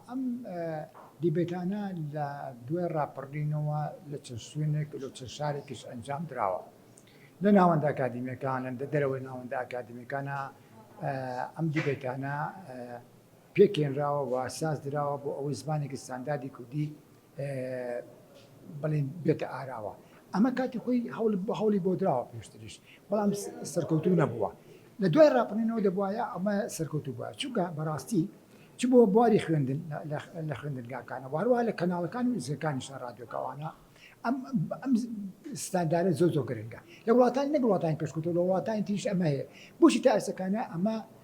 ئەم دیبەیتانە لە دوای ڕاپەڕینەوە لە چەند شوێنێک و لە چەند شارێکیش ئەنجام دراوە لە ناوەندە ئەکادیمیەکانە لە دەرەوەی ناوەندە ئەکادیمیەکانە ئەم دیبەیتانە پێکێنراوە و ساز دراوە بۆ ئەوەی زمانێکی ستانداردی کوردی بڵێن بێتە ئاراوە ئەمە کاتی خۆی هەوڵی بۆ دراوە پێشتریش بەڵام سەرکەوتو نەبووە لە دوای ڕاپەڕینەوە دەبواە ئەمە سەرکەوتو بووە چونکە بەڕاستی چ بۆ بواری خوێندن لە خوێندنگاکانە واروە لە کەناڵەکان و زیەکانی شارادیۆکەوانە ئەم ئەم ستاندارە زۆ زۆ گرنگە لە وڵاتان نەگوڵاتانی پێشکوتە لە وڵاتانی تریش ئەمە هەیە بۆشی تا ئەسەکانە ئەمە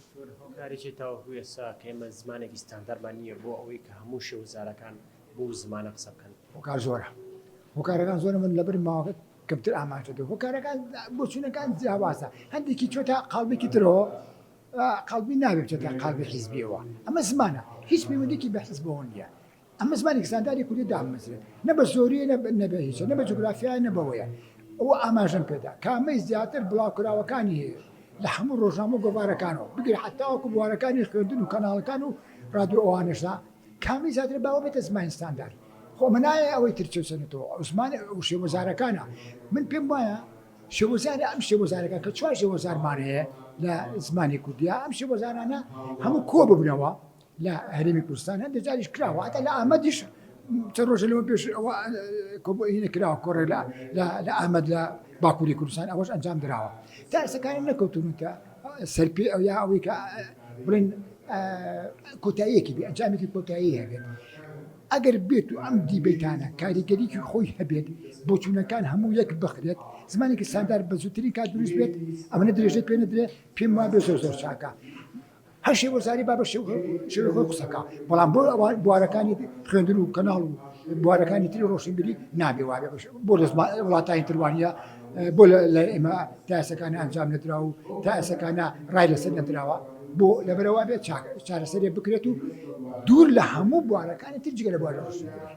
دکتۆر هۆکاریی تاوەکو ئێستا کە ئێمە زمانێکی ستاندارمان نییە بۆ ئەوەی کە هەموو شێوەزارەکان بەو زمانە قسە بکەن؟ هۆکار زۆرە، هۆکارەکان زۆرە من لەبەر ماوە کەمتر ئاماژە دەم، هۆکارەکان بۆچوونەکان جیاوازە، هەندێکی چۆتە قاڵبێکی ترەوە، قاڵبی ناوێک چۆتە قاڵبی حیزبییەوە، ئەمە زمانە هیچ پەیوەندییەکی بە حیزبەوە نییە. ئەمە زمانێکی ستانداری کوردی دامەزرێت نە بە زۆریە نە بە- نە بە هیچە نە بە جوگرافیایە نە بەوەیە ئەوە ئاماژەم پێدا کامەی زیاتر بڵاوکراوەکانی هەیە لە هەموو ڕۆژنامە و گۆڤارەکانەوە بگرە حتاوەکو بوارەکانی خوێندن و کەناڵەکان و ڕادیۆ ئەوانەشدا کامی زیاتر باوە بێتە زمانی ستاندار خۆ ئەمە نایە ئەوەی تر چێسەنێتەوە ئەو زمان و شێوەزارەکانە من پێم وایە شێوەزاری ئەم شێوەزارەکە کە چوار شێوەزارمان هەیە لە زمانی کوردیا ئەم شێوەزارانە هەموو کۆ ببنەوە لە هەرێمی کوردستان هەندێک جاریش کراوە هەتا لە ئامەدیش چەند ڕۆژە لەوە پێش ئەوە کۆبوونی کراوە کۆڕێ لە لە ئامەد لە باکووری کوردستان ئەوەش ئەنجام دراوە تا ئێسەکانە نەکەوتون کە سەرپێ ئەو یا ئەوەی کە بڵێن کۆتاییەکی بێ ئەنجامێکی کۆتایی هەبێت ئەگەر بێت و ئەم دیبێتانە کاریگەریکی خۆی هەبێت بۆچوونەکان هەموو یەک بخرێت زمانێکی ساندار بە زووترین کات دروست بێت ئەمەە درێژەی پێ نەدرێت پێم وا بێ زۆر زۆر چاکە هەر شێ وەرزاری با بە شێوەی خۆی قسە کا بەڵام بۆ ئەوە بوارەکانی خوێندن و کەناڵ و بوارەکانی تری ڕۆشنبیری نابێ وابێ بەش بۆ دەست وڵاتانی تروانە بۆ لە ئێمە تاسەکانە ئەنجام نەدرا و تاسەکانە ڕای لەسەر نەدراوە بۆ لەبەرەوە بێت چارەسەرێ بکرێت و دوور لە هەموو بوارەکانی تر جگە لە بوارە ڕۆشنبیری